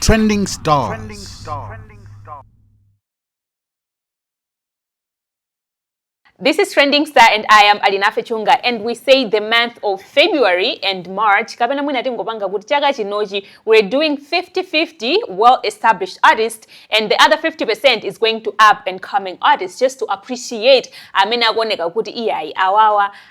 Trending stars. Trending stars. This is Trending Star and I am Alinafe Chunga and we say the month of February and March kapena mwina tingopanga kuti chaka chinochi we're doing 50-50 well-established artists and the other 50% is going to up and coming artists just to appreciate amene akuoneka kuti iyayi awawa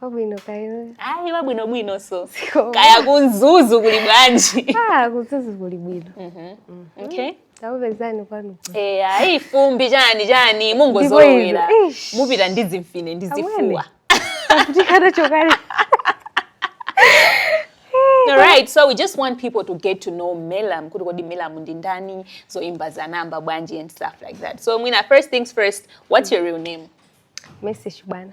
wabwino kayo ayi wabwino bwino so kaya ku Mzuzu kuli bwanji ah ku Mzuzu kuli bwino mhm. mhm. okay takupezani kwanu eh ayi fumbi chani chani mungozowera mupita ndi zimfine ndi zifuwa tikana chokali All right, so we just want people to get to know Melam, kuti kodi Melam ndi ndani, zoyimba anayamba bwanji and stuff like that. So Mwina, first things first, what's your real name? Mercy Shibana.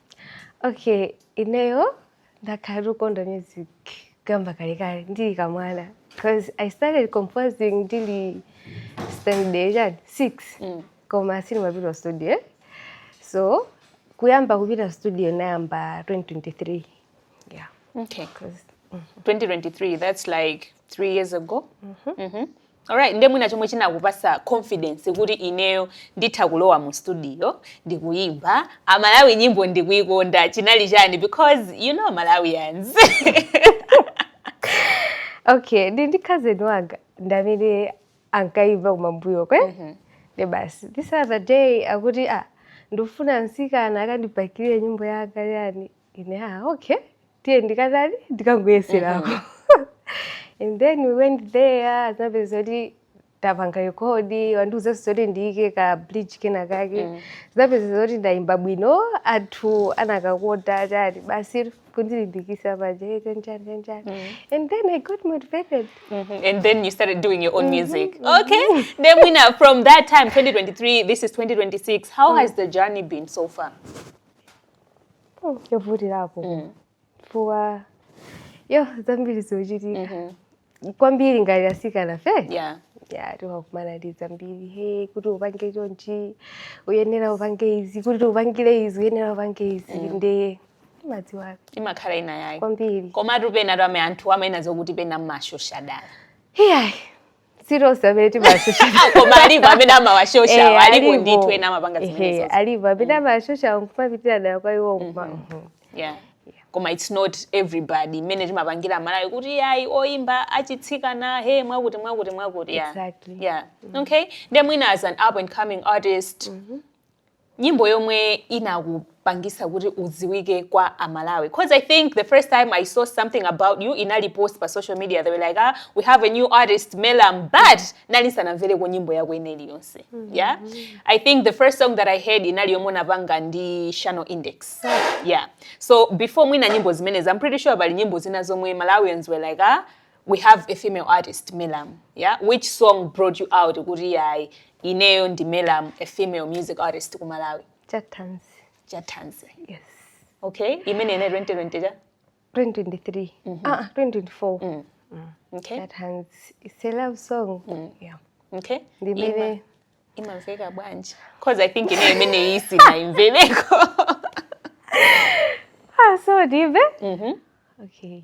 okay ineyo ndakhala ndikukonda music kuyambira kalekale ndili kamwana because i started composing ndili standard chani six mm. koma sindimapita studio so kuyamba kupita studio ndinayamba 2023 yeah okay 2023 mm-hmm. that's like three years ago mm -hmm. Mm -hmm. Alright, ndiye mwina chomwe chinakupasa confidence kuti ineyo nditha kulowa mu studio ndikuyimba amalawi nyimbo ndikuyikonda chinali chani because you know malawians okay ndi cousin wanga ndi amene ankayimba kumbuyoko mm -hmm. nde basi this other day akuti ah ndifuna msikana akandibakirire nyimbo yanga chani ine ah okay tiye ndikatani ndikangoyeserapo and then we went there zinapezeka kuti tapanga rekodi andiuzanso zoti ndiyike ka bridge kena kake zinapezeka zoti ndayimba bwino anthu anakakonda chani basi kundilimbikitsa paje chanchani chanchani and then i got motivated Mhm. And then you started doing your own music. Okay. Then we know from that time, 2023, this is 2026. How has the journey been so far? Mm, yovutirapo mm. chifukwa cha zambiri zochitika mm-hmm. kwambiri ngati atsikanafe yeah ya timakumana ndi zambiri he kuti upange chonchi uyenera upange izi kuti upangire izi uyenera upange izi mm. nde mukudziwa imakhala ina yake kwambiri komatu pena timamva anthu amanena zokuti pena mmashosha dala iyayi si tonse amene timashosha koma alipo amene amawashosha Eh, alipo alipo. ndithu ena amapanga Ehe, zimenezo alipo amene amashosha nkumapitira nayo kwa iwo nkuma yeah koma it's not everybody mmene timapangira malawi kuti ayi oyimba achitsikana he mwakuti mwakuti mwakuti yeah. Exactly. yeah okay nde mwina as an up and coming artist nyimbo yomwe inakupangitsa kuti udziwike kwa amalawi cause i think the first time i saw something about you inali post pa social media they were like ah, we have a new artist melam but ndinali ndisanamvereko nyimbo yako ina iliyonse mm -hmm. yeah i think the first song that i heard inali yomwe unapanga ndi Shano Index yeah so before mwina nyimbo zimenezi i'm pretty sure pali nyimbo zina zomwe malawians were like ah, we have a female artist Melamu yeah which song brought you out kuti yayi ineyo ndi Melamu a female music artist ku Malawi Chatanzi. Chatanzi yes okay imene ine 2020 cha 2023 mm -hmm. ah 2024 mm. Mm. okay Chatanzi it's a love song mm. yeah okay ndimene imamveka bwanji cause i think ine imeneyo sindinaimvereko ah so dive mm -hmm. okay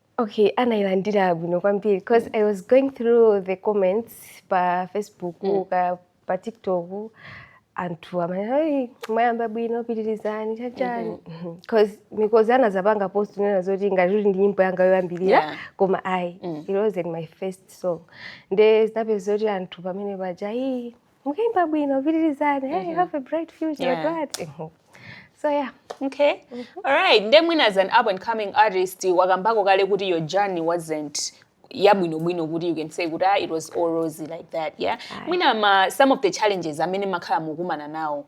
Okay, anailandira bwino kwambiri because I was going through the comments pa Facebook mm. ka pa TikTok anthu amanena ayi mwayamba bwino pitirizani chani chani because mm-hmm. mm-hmm. Mikozi anazapanga post kunena zoti ngati kuti ndi nyimbo yanga yoyambirira yeah. koma ayi mm. it wasn't my first song nde zinapeza zoti anthu pamene paja ii Mkaimba bwino, pitirizani. Hey, you have a bright future. Yeah. Glad. Mhm. So yeah. okay alright nde mwina as an up and coming artist wakambako kale kuti your journey wasn't yabwinobwino kuti you can say kuti ah, it was all rosy like that yeah mwina ma, some of the challenges amene makhala mukumana nawo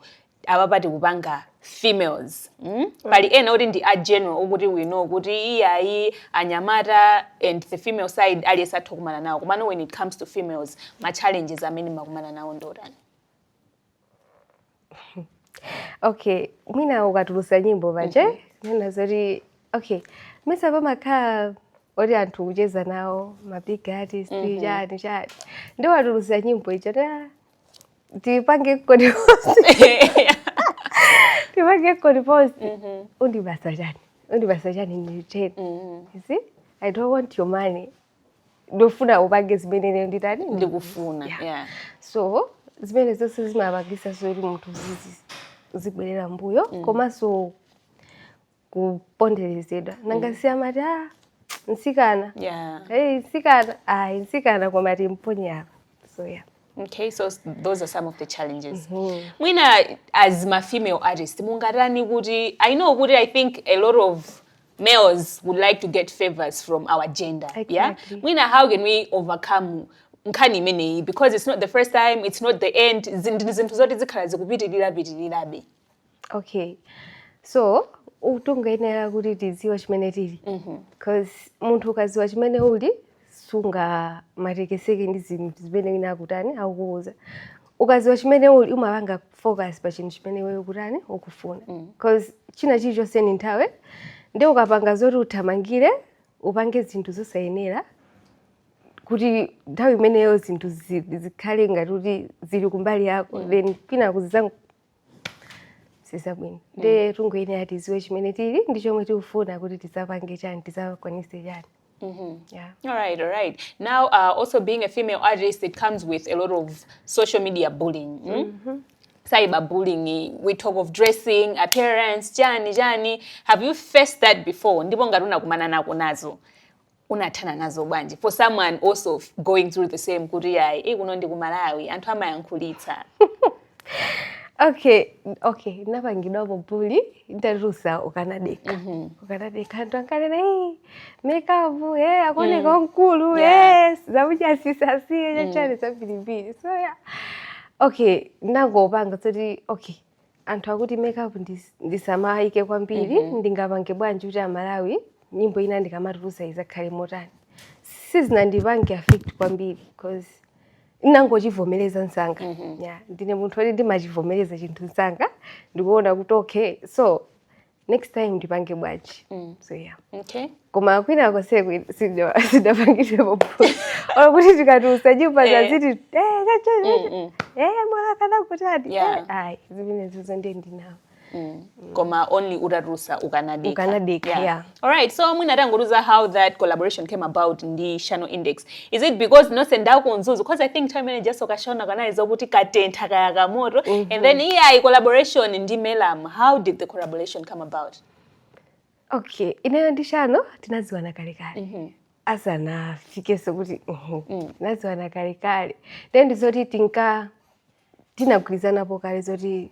apapa tikukamba za females mm? pali ena oti ndi a general okuti we know kuti iyayi anyamata and the female side aliyense atha kumana nawo komano when it comes to females ma challenges amene makumana nawo ndi otani okay mwina ukatulusa nyimbo paja okay. kunena zoti okay mesa pamakhala oti anthu ukucheza nawo mabig artist mm -hmm. chani chani nde watulusa nyimbo icho ndipange kodi ndipange kodi post Mhm. undipasa chani undipasa chani ndiyeno Mhm. you see i don't want your money ndofuna upange zimene ine nditani ndikufuna Yeah. yeah. so zimene zonse zimapangisa zoti munthu azi- azibwerera mbuyo komanso kuponderezedwa nanga mm. siamati a ah, mtsikana yeah. hey, mtsikana ayi mtsikana koma timponye apa so yeah Okay, so those are some of the challenges. Mm -hmm. Mwina as ma female artist, mungatani kuti I know kuti I think a lot of males would like to get favors from our gender. Exactly. Yeah? Mwina how can we overcome nkhani imeneyi because it's not the first time, it's not the end. Zinthu zoti zikhala zikupitirira pitirirabe. okay so tingoyenera kuti tidziwe chimene tili mhm. cause munthu ukadziwa chimene uli sungamatekeseke ndi zinthu zimene wina akutani akukuuza ukadziwa chimene uli umapanga focus pa chinthu chimene iweyo ukutani ukufuna mm. cause china chilichonse ndi nthawi nde ukapanga zoti uthamangire upange zinthu zosayenera kuti nthawi imeneyo zinthu zikhale ngati kuti zili kumbali yako mm. then kwinaku zizakha sizabwino nde tingoyenera tiziwe chimene tili ndi chomwe tikufuna kuti tizapange chani tizakwanise chani Mm -hmm. Yeah. All right, all right. Now, uh, also being a female artist, it comes with a lot of social media bullying. Mm? Mm -hmm. cyberbullying we talk of dressing appearance chani chani have you faced that before ndipo ngati unakumana nako nazo unathana nazo bwanji for someone also f- going through the same kuti yayi e kuno ndi ku malawi anthu amayankhulitsa okay okay ndinapangidwapo bully nditatulutsa ukanadekha ukanadekha anthu ankanena "Hey, makeup hey, akuoneka wamkulu Yeah. yes zakucha asasiye chachani zambirimbiri so yeah okay ndinangopanga zoti okay anthu akuti makeup ndis- ndisamayike kwambiri Mhm. ndingapange bwanji kuti amalawi nyimbo ina ndikamatulutsa izakhale motani sizinandipange affect kwambiri cause ndinangochivomereza msanga Mhm. yeah. ndine munthu woti ndimachivomereza chinthu msanga ndikuona kuti okay so next time ndipange bwanji mm. so yeah okay koma kwina konse sunapangidwepo olo kuti tikati usajaipa eh. zakuti eh, mm, mm. eh, mwakana kuti ayi zimenezo ndiye ndinawo Mm. mm. koma only utatulutsa ukanadekha ukanadekha yeah. yeah. all right so mwina tangotiuza how that collaboration came about ndi shano index is it because nonse ndi aku mzuzu because i think time imene ijaso ka shano kanali zokuti katentha kaya kamoto mm -hmm. and then mm-hmm. iyayi collaboration ndi merriam how did the collaboration come about okay ineyo ndi shano tinadziwana kalekale mm -hmm asanafike sokuti mhm, mm. tinaziwana kale kale then ndizoti tinka tinagwirizanapo kale zoti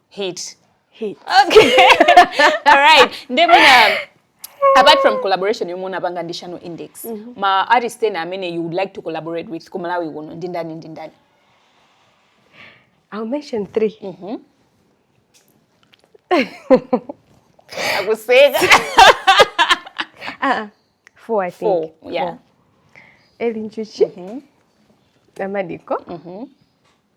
Hit. Hit. Okay. All right. Nde mwina apart from collaboration yomwe unapanga ndi Shano Index, mm -hmm. ma artist ena amene you would like to collaborate with ku Malawi kuno ndi ndani ndi ndani? I'll mention three. Mm -hmm. Akuseka. uh -uh. Four, I think. Four, yeah. Four. Eli Njuchi. Mm -hmm. Amadiko. Mm -hmm.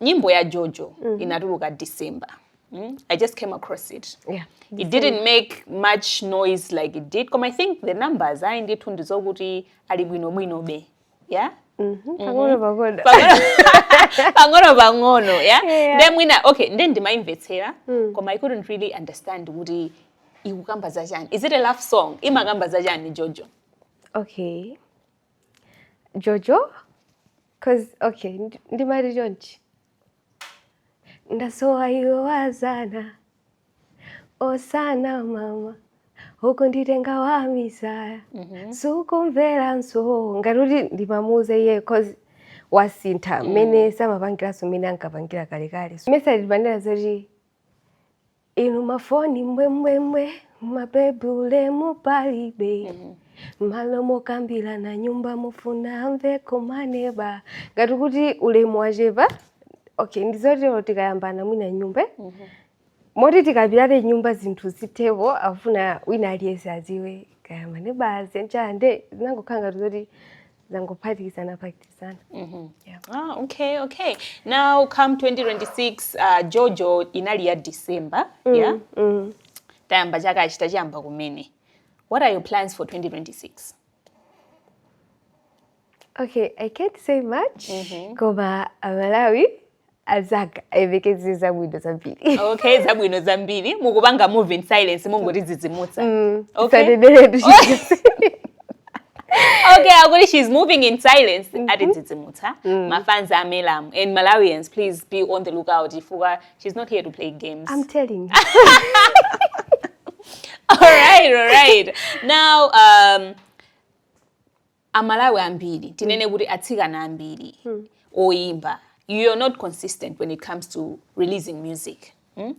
nyimbo ya jojo mm -hmm. inatuluka december mm? i just came across it yeah. it didn't make much noise like it did koma i think the numbers ayi ndithu ndizokuti ali bwinobwinobe yeah mm -hmm. pang'ono pang'ono pang'ono pang'ono ya nde mwina okay nde ndimayimvetsera mm. koma i couldn't really understand kuti ikukamba za chani is it a love song imakamba za chani jojo okay jojo cause okay ndi- ndimati chonchi ndasowa iwe wa dzana osanama ukunditenga wamisala sukumveranso ngati kuti ndimamuuza iye cause wasintha mmene samapangiranso mmene ankapangira kalekale mesa timapanira zoti inu mafoni mbwembwembwe mabebi ulemu palibe malo mokambirana m'nyumba mufuna amveko maneba ngati kuti ulemu wachepa okay ndi zoti tikayambana mwina m'nyumba moti tikambirane m'nyumba zinthu zithepo afuna wina aliyense aziwe kaya maneba aziwe nchani nde zinangokhala ngati zoti zangophatikizana phatikizana yeah. Ah, okay, okay. Now come 2026 uh, Jojo inali ya December, yeah? mm. Tayamba chaka achita chiyamba kumene. What are your plans for 2026? okay i can't say much koma amalawi azaka ayembekezere zabwino zambiri okay zabwino zambiri mukupanga move in silence mungotidzidzimutsa mm, okay. sananeneretu okay akuti she's moving in silence mm -hmm. atidzidzimutsa mm. mafans a melam and malawians please be on the lookout chifukwa she's not here to play games i'm telling all right all right now um, amalawi ambiri tinene kuti atsikana ambiri oyimba are not consistent when it comes to releasing music Hmm?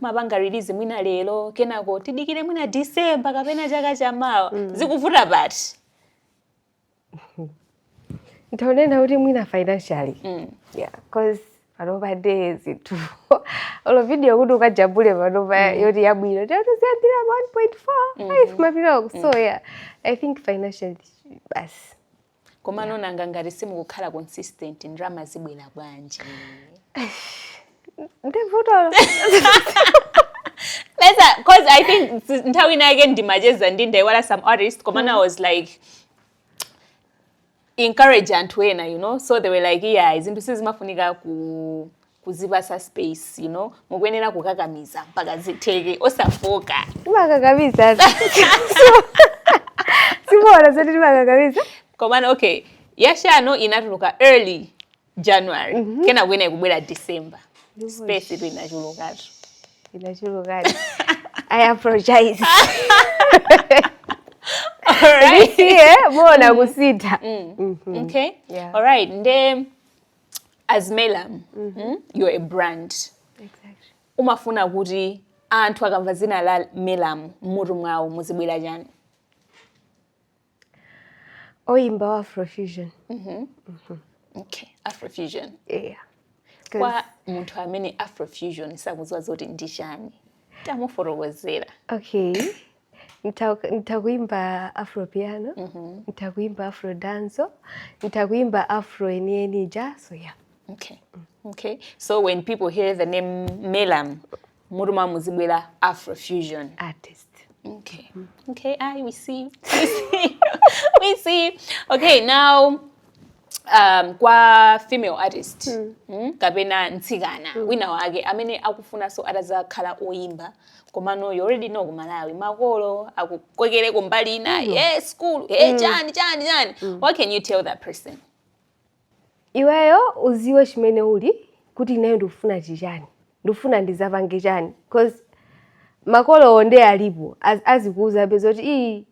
mapanga release mwina lero kenako tidikire mwina december kapena chaka chamawa zikuvuta pati ntaonena kuti mwina financially yeah cause panopa nde zinthu olo video kuti ukajambule panopa mm. yoti yabwino ndi ya 1.4 1.5 kumapitako so mm. yeah i think financially basi koma yeah. nanga ngati simukukhala consistent ndalama zibwera bwanji ndi vutolo because I think nthawi ina yake ndimacheza ndi ndaiwala some artist koma mm. I was like encourage anthu ena you know so they were like yeah zinthu sizimafunika ku kuzipasa space you know mukuyenera kukakamiza mpaka zitheke osafooka timakakamiza simuona zoti timakakamiza komano okay yachisanu inatuluka early january mm -hmm. kenako ina ikubwera december space itu inachulukatu inachulukatu i apologize Alright. yeah, muona mm. kusintha. Mm. Mm -hmm. Okay. Yeah. All right. Nde as Melam, mm -hmm. mm, you're a brand. Exactly. Umafuna kuti anthu akamva zina la Melam mmutu mwawo muzibwera chani? oyimba wa afrofusion mm-hmm. Mm-hmm. okay afrofusion yeah kwa munthu amene afrofusion sakuziwa zoti ndi chani tamufotokozera okay nitakuimba afro piano mm -hmm. nitakuimba afro danzo nitakuimba afro enieni ja so yeah okay okay so when people hear the name melam mmutu mwawo muzibwera afrofusion artist okay okay i we see we see we see okay now um, kwa female artist mm. Mm, kapena mtsikana mm. wina wake amene akufunanso atazakhala oyimba komano you already know kumalawi makolo akukokere kumbali ina mm. yes school hey, mm. chani chani chani mm. what can you tell that person Iweyo uziwe chimene uli kuti ineyo ndikufuna chichani ndikufuna ndizapange chani coz makolowo nde alipo azikuuzabe zoti ii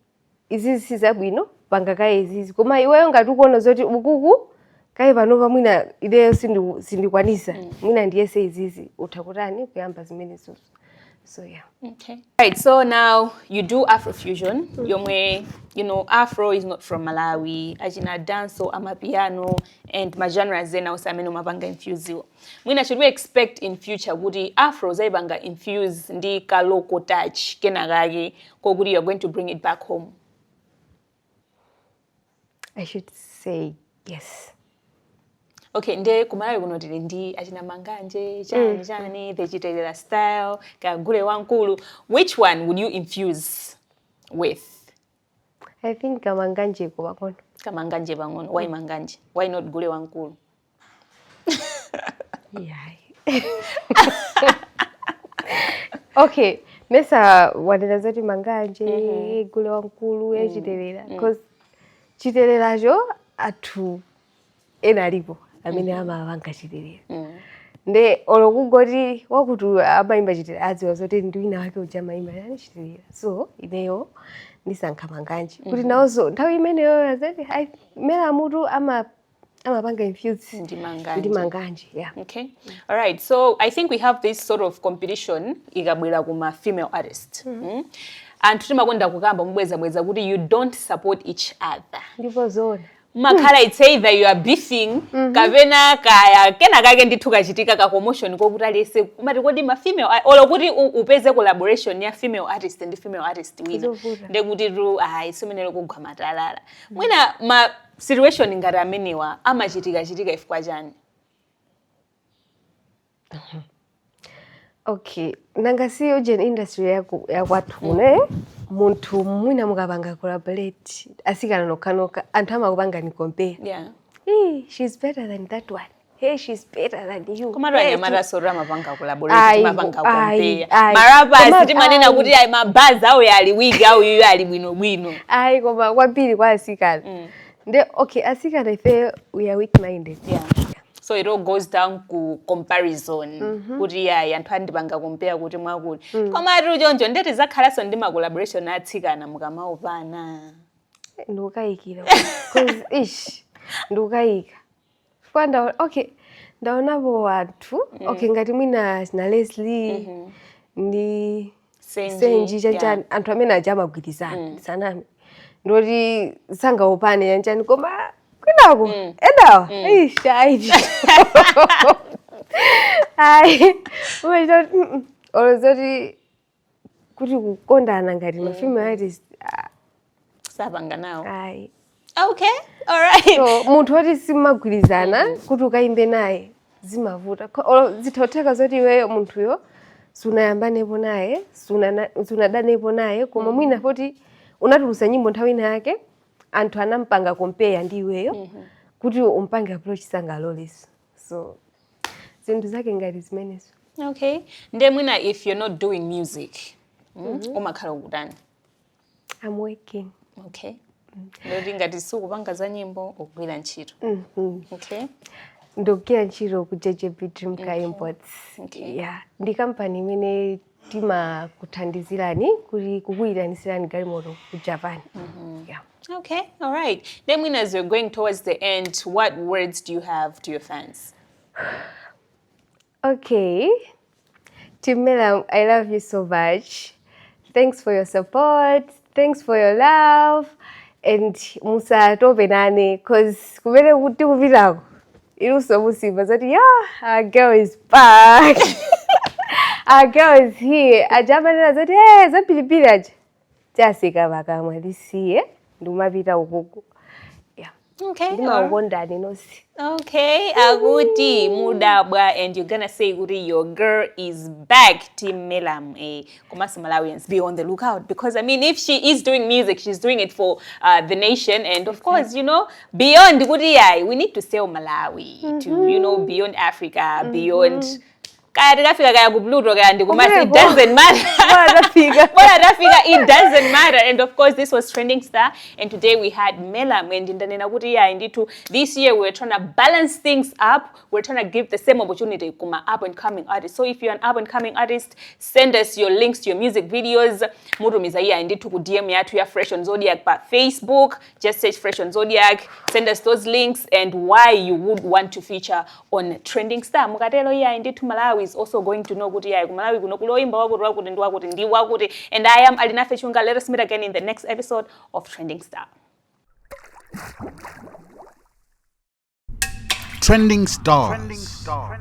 izizi sizabwino panga kaye izizi koma iweyo ngati ukuona zoti ukuku kaye panopa mwina ineyo sindiku sindikwanisa mwina ndiyese izizi utha kutani kuyamba zimenezozo. so yeah okay right so now you do afrofusion mm -hmm. yomwe you know afro is not from malawi achina danso amapiano and magenre azena onse amene umapanga infusiwo mwina should we expect in future kuti afro uzayipanga infuse ndi kaloko touch kenakake kokuti youare going to bring it back home I should say yes. okay nde kumalawi kuno tili ndi achina manganje chani chani the chitelela style kagule wamkulu which one would you infuse with I think kamanganje pang'ono. kamanganje pang'ono why manganje why not gule wamkulu yayi okay mesa wanena zoti manganje mm -hmm. gule wamkulu mm. yachitelera mm. cause chiteleracho anthu ena alipo amene mm -hmm. amapanga chitelera mm. nde olo kungoti wakuti amaimba chitelera adziwa zoti ndi wina wake uja amaimba chani chitelera so ineyo ndisankha manganje mm -hmm. kuti nawozo nthawi imeneyo azatimere mutu ama amapanga infuse ndi manganje, ndi manganje yeah. Okay. All right. So I think we have this sort of competition ikabwera kuma female artist. Mm. Mm. Anthu timakonda kukamba mobwerezabwereza kuti you don't support each other. Ndipo zona. Mumakhala it's either you are beefing mm -hmm. kapena kaya kena kake ndithu kachitika ka commotion kokuti aliyense kumati kodi ma female olo kuti upeze collaboration ya female artist ndi female artist wina ndekutitu ayi tsiku limenelo kugwa matalala. Mwina ma situation ngati amenewa amachitika chitika ifukwa chani okay nanga si ujeni industry yaku- yakwathu kuno eh? munthu mwina mukapanga collaborate asikana nokhanokha anthu amakupangani compare yeah Hey, she's better than that one Hey, she's better than you. Koma hey, anyamatanso amapanga collaborate amapanga compare. Marapa si timanena kuti ayi mabazi a uyo ali weak uyo iye ali bwino bwino. Ayi koma kwambiri kwa asikana. Mm. Nde okay asikana ife we are weak minded. Yeah. So it all goes down ku comparison mm -hmm. kuti ayi anthu andipanga compare kuti mwakuti. Mm. Koma ati choncho nde tizakhalanso ndi ma collaboration atsikana mukamaopana. Ndikukayikira. Cause ish ndikukayika. chifukwa ndaona okay ndaonapo anthu mm. okay ngati mwina achina leslie mm -hmm. ndi senji, senji chanchani yeah. anthu amene aja amagwirizana mm. sizaname ndoti sangaopane chanchani koma kwinako mm. enawa mm. eish ayi ayi umachita kuti olozoti kuti kukondana ngati ma female artist ah, sapanga nawo ayi okay alright so munthu woti simagwirizana kuti ukayimbe naye zimavuta Ko- olo zikutheka zoti iweyo munthuyo sunayambanepo naye sunana- sunadanepo naye koma mwina poti unatulusa nyimbo nthawi ina yake anthu anampanga kompeya ndi iweyo kuti umpange approach sangaloleso so zinthu zake ngati zimenezo okay nde mwina if you're not doing music mm, mm -hmm. umakhala ukutani i'm working okay ndoti ngati sukupanga za nyimbo ukugwira ntchito mm -hmm. okay ndikugwira ntchito ku jj bedroom car imports okay. yeah. ndi kampani imene timakuthandizirani kuti kukuyitanitsirani galimoto ku japan mm-hmm. yeah. okay all right then mwina as you're going towards the end what words do you have to your fans okay timela i love you so much thanks for your support thanks for your love and musatope nane cause kumene kuti kupitako iluso muzimva zoti yeah our girl is back our girl is here aja amanena zoti hey, eh, zapilipili aja chatseka pakamwa lisiye ndikumapita ukuku Okay. ndimakukondani nonse Okay, akuti mudabwa and you're gonna say kuti your girl is back Team Melam eh komanso Malawians be on the lookout because I mean if she is doing music she's doing it for uh, the nation and of course you know beyond kuti yayi we need to sell Malawi to you know beyond Africa beyond kaya tikafika kaya ku pluto kaya ndi kumati it Kumeneko. doesn't matter Bora tafika. Bora tafika it doesn't matter and of course this was trending star and today we had mela mwendi ndanena kuti iye ndithu this year we were trying to balance things up we were trying to give the same opportunity kuma up and coming artist so if you're an up and coming artist send us your links to your music videos mutumiza iye ndithu ku dm yathu ya fresh on zodiac pa facebook just search Fresh on Zodiak, send us those links and why you would want to feature on Trending Star. Mukatelo iyayi ndithu Malawi is also going to know kuti iyayi ku Malawi kuno kuli oimba wakuti wakuti ndi wakuti ndi wakuti and I am Alinafe Chunga. Let us meet again in the next episode of Trending Star. Trending Stars. Trending Stars.